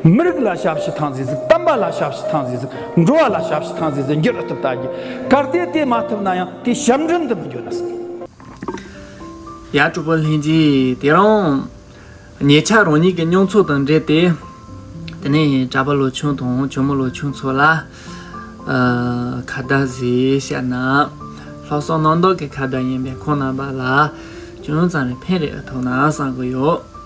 མི་རིགས་ལ་ཞབས་ཕྱི་ཐང་ཟིག་ཟིག་བསྟན་པ་ལ་ཞབས་ཕྱི་ཐང་ཟིག་ཟིག་འགྲོ་བ་ལ་ཞབས་ཕྱི་ཐང་ཟིག་ཟིག་འགྱུར་ཐུབ་ད་གི་གར་སྟེ་དེ་མ་ཐུབ་ན་ཡང་དེ་ཞབས་འདྲེན་དུ་མི་འགྱུར་ན་སྲིད། ཡ་དྲུག་པོ་ལྷན་སྐྱེས་དེ་རང་ཉེ་ཆར་རང་ཉིད་ཀྱི་མྱོང་ཚོར་དང་འབྲེལ་ཏེ། དེ་ནས་གྲྭ་པ་ལོ་ཆུང་དང་གྱོ་མོ་ལོ་ཆུང་ཚོ་ལ་ཁ་བརྡ་ཟེར་བཤད་ན། ལྷག་བསམ་རྣམ་དག་གི་ཁ་བརྡ་ཡིན་པས་ཁོང་རྣམ་པ་ལ་ཅུང་ཙམ་རེ་ཕན་རེ་ཐོབ་ན་བསམ་གྱི་ཡོད།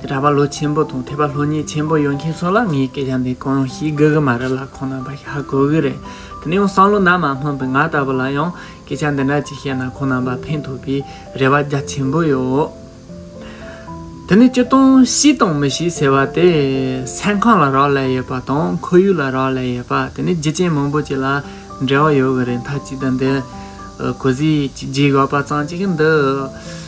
ར་བ་ལོ་ཆེན་པོ་དང་ཐེ་བ་ལྷོ་གཉིས་ཆེན་པོ་ཡོང་མཁན་ཚོ་ལ་ངའི་སྐད་ཆ་འདི་གང་ཡང་ཤེས་དགོས་ཀྱི་མ་རེད་ལ་གང་ན་པ་ཤར་དགོས་ཀྱི་རེད་དེ་ནས་ཡང་བསམ་བློ་ནར་མ་སྣང་པའི་ང་ལྟ་བུ་ལ་ཡང་སྐད་ཆ་འདི་འདྲ་ཅིག་བཤད་ན་གང་ན་པ་ཕན་ཐོགས་པའི་རེ་བ་རྒྱ་ཆེན་པོ་ཡོད། དེ་ནས་སྤྱིར་བཏང་ཤི་དང་མི་ཤི་ཟེར་བ་དེ་སེམས་ཁམས་ལ་རག་ལས་ཡོད་པ་དང་ཁོར་ཡུག་ལ་རག་ལས་ཡོད་པ་དེ་ནི་རྒྱུ་རྐྱེན་མང་པོ་ཅིག་ལ་འབྲེལ་བ་ཡོད་ཀྱི་རེད་མཐའ་གཅིག་ཏུ་འདི་གོ་གཟིགས་ཀྱིས་རྗེས་ཡོད་པ་ཙམ་གཅིག་གིས་འདི་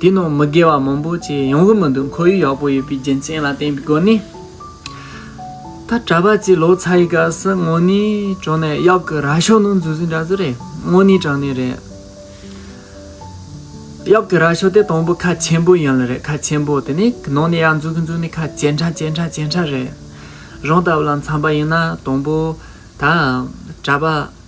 དེའི་ནང་མི་དགེ་བ་མང་པོ་བྱས་ཡོང་གི་མི་འདུག་ཁོར་ཡུག་ཡག་པོ་ཡོད་པའི་རྒྱུ་མཚན་ལ་བརྟེན་པའི་སྒོ་ནས། ད་གྲྭ་པ་ཚོས་ལོ་ཚ་ཡི་སྐབས་སུ་དངོས་གནས་དྲང་ནས་གཡག་གི་རྭ་ཤོག་ནང་འཛུལ་ཟིན་འདྲ་ཟེར་རེད་དངོས་གནས་དྲང་གནས་རེད། གཡག་གི་རྭ་ཤོག་དེ་དང་པོ་ཁ་ཆེན་པོ་ཡིན་ལ་རེད་ཁ་ཆེན་པོ་དེ་ནི་ནང་ནས་གཡག་འཛུལ་གི་འཛུལ་ནས་ཁ་ཇེ་འཕྲ་ཇེ་འཕྲ་ཇེ་འཕྲ་རེད། རང་ལྟ་བུ་ལ་འཚམས་པ་ཡིན་ན་དང་པོ་ད་གྲྭ་པ།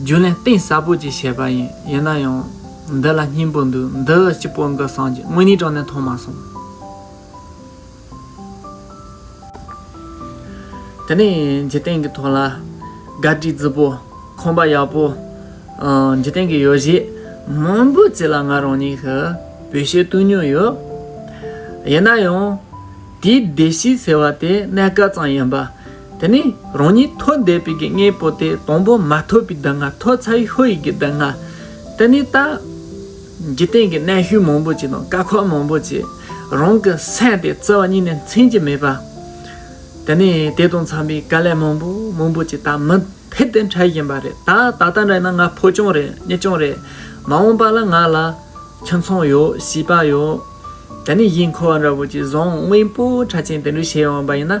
རྒྱུན་ལས་གཏིང་ཟབ་པོ་གཅིག་བྱས་པ་ཡིན་ཡིན་ན་ཡང། འདི་ལ་སྙིང་པོ་འདུག་འདི་སྤྱི་པོ་འགའ་སངས་རྒྱས་དངོས་གནས་དྲང་གནས་མཐོང་མ་སོང། དེ་ནས་འཇིག་རྟེན་གྱི་ཐོག་ལ། སྒར་གྲི་རྫི་པོ། ཁང་པ་ཡག་པོ། འཇིག་རྟེན་གྱི་ཡོ་བྱད་མང་པོ་བརྩིས་ལ་ང་རང་ཉིད་ཀྱི་བོད་ཤེས་བཏུལ་མྱོང་ཡོད། ཡིན་ན་ཡང། དེའི་སྡེ་བཞི་ཟེར་བ་དེ་གནས་སྐབས་ཙམ་ཡིན་པ། དེ་ནས་རང་ཉིད་ཐོས་བསྡད་པའི་གི་ལྔའི་པོ་ཏའི་དང་པོ་མ་ཐོས་པའི་སྡུག་བསྔལ་ཐོས་ཚ་ཡི་ཧོ་ཡི་གི་སྡུག་བསྔལ། དེ་ནས་ད། འཇིག་རྟེན་གྱི་གནས་ཤུལ་མང་པོ་ཅིག་དང་དཀའ་ཁག་མང་པོ་ཅིག་རང་གི་སེམས་དེ་བརྩེ་བ་གཉིས་ནས་མཚན་གྱི་མེད་པ། དེ་ནས་དེ་དང་འཚམས་པའི་དཀའ་ལས་མང་པོ་མང་པོ་ཅིག་ད་མི་ཕེབས་ཏེ་འཕྲད་བཞིན་པ་རེད་ད་ད་ལྟ་འདྲ་ཡིན་ན་ང་ཕོ་བྱུང་རེད་མྱི་བྱུང་རེད། མ་འོངས་པ་ལ་ང་ལ་ཁྱིམ་ཚང་ཡོད་བྱིས་པ་ཡོད། དེ་ནས་གཞིས་འཁོར་བ་འདྲ་བོ་ཅིག་བཟང་དངོས་པོ་ཕྲ་ཆེན་དེ་འདྲ་བྱས་འོངས་པ་ཡིན་ན།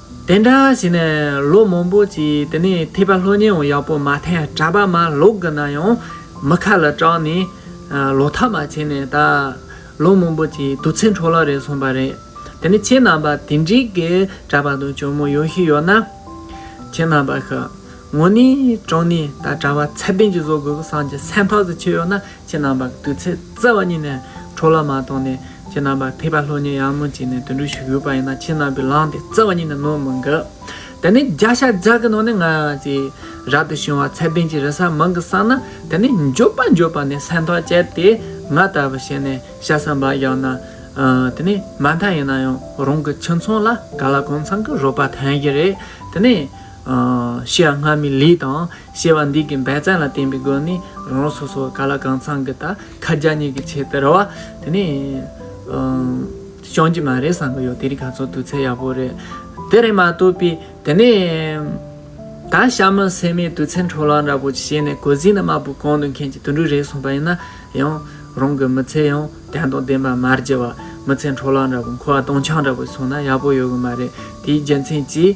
དེ་འདྲ་བྱས་ནས་ལོ་མང་པོ་གྱིས་དེ་ནས་ཐེག་པ་ལྷོད་ཉེའོ་ཡག་པོ་མ་ཐེག་གྲྭ་པ་མ་ལོག་གི་ན་ཡང་མི་ཁ་ལ་སྐྲག་ནས་ལོ་ཐ་མ་བྱས་ནས་ད་ལོ་མང་པོ་གྱིས་དུས་ཚིགས་འཕྲོ་བརླག་རེད་སོང་པ་རེད་དེ་ནས་ཁྱེད་རྣམས་པ་དེ་འདྲིག་གི་གྲྭ་པ་དང་གྱོ་མོ་ཡོད་ཤི་ཡོད་ན་ཁྱེད་རྣམས་པ་ཤི། ངོ་ནི་ཀྲོང་ནི་ད་གྲྭ་བ་ཚད་ལྡན་གྱི་བཟོ་དགོས་གི་སང་གྱི་སེམས་ཕག་ཟིག་ཆེ་ཡོག་ན་ཁྱེད་རྣམ་པ་གི་དུས་ཚེ་བརྩེ་བ་ཉིད་ནས་ཁྲོ་ལ་མ་གཏོང་ནས་ཁྱེད་རྣམ་པ་ཕི་པ་ལྷོ་ཉི་ཡར་མོ་བྱས་ནས་དུད་འགྲོ་ཞུགས་ཡོད་པ་ཡིན་ན་ཁྱེད་རྣམ་པའི་ལང་དེ་བརྩེ་བ་ཉིད་ནས་ནོར་མི་འགི། དེ་ནི་རྒྱ་ཤ་རྒྱག་གི་ནང་ནས་ང་ཅི་རབ་ཏུ་བྱུང་བ་ཚད་ལྡན་གྱི་རི་སར་མང་གི་སང་ན་དེ་ནི་འགྱོད་པ་འགྱོད་པ་ནས་སེམས་ཐག་བཅད་དེ་ང་ལྟ་བུ་བྱས་ནས་ཤ་ཟ་འབའ་རྒྱག་ན་དེ་ནི་མ་མཐའ་ཡིན་ན་ཡང་རང་གི་ཁྱིམ་ཚང་ལ་ག་ལ་གང་འཚམ་གི་རོགས་པ་ཐོན་གྱི་རེད་དེ་ནི། ཤེས་ཡ་སྔ་མའི་ལུས་དང་ཤེས་པ་འདི་གི་འབད་བརྩོན་ལ་བརྟེན་པའི་སྒོ་ནས་རང་རང་སོ་སོའི་ག་ལ་གང་ཚང་གི་ད་ཁ་རྒྱ་གཉིས་ཀྱི་ཆེད་དུ་རེ་བ་དེ་ནས་བྱང་གི་མ་རེད་བསམ་གི་ཡོད་དེ་རིགས་ག་ཚོད་དུས་ཚད་ཡག་པོ་རེད་དེ་རེད་མ་ཐུབ་པས་དེ་ནས་ད་ཤ་མི་ཟེར་མའི་དུས་ཚད་འཕྲོ་བརླག་འདྲ་པོ་ཞིག་བྱས་ནས་གོ་གཟིགས་ནི་དམར་པོ་གང་དུ་མཁན་གྱི་དུད་འགྲོའི་རེད་གསུངས་པ་ཡིན་ན་ཡང་རང་གི་མི་ཚེ་ཡང་དན་དང་ལྡན་པ་མར་བརྗེ་བ་མི་ཚེ་འཕྲོ་བརླག་འདྲ་པོ་འཁོར་བ་སྟོང་ཆང་འདྲ་པོ་སོང་ན་ཡག་པོ་ཡོད་གི་མ་རེད་དེའི་རྒྱུ་མཚན་གྱིས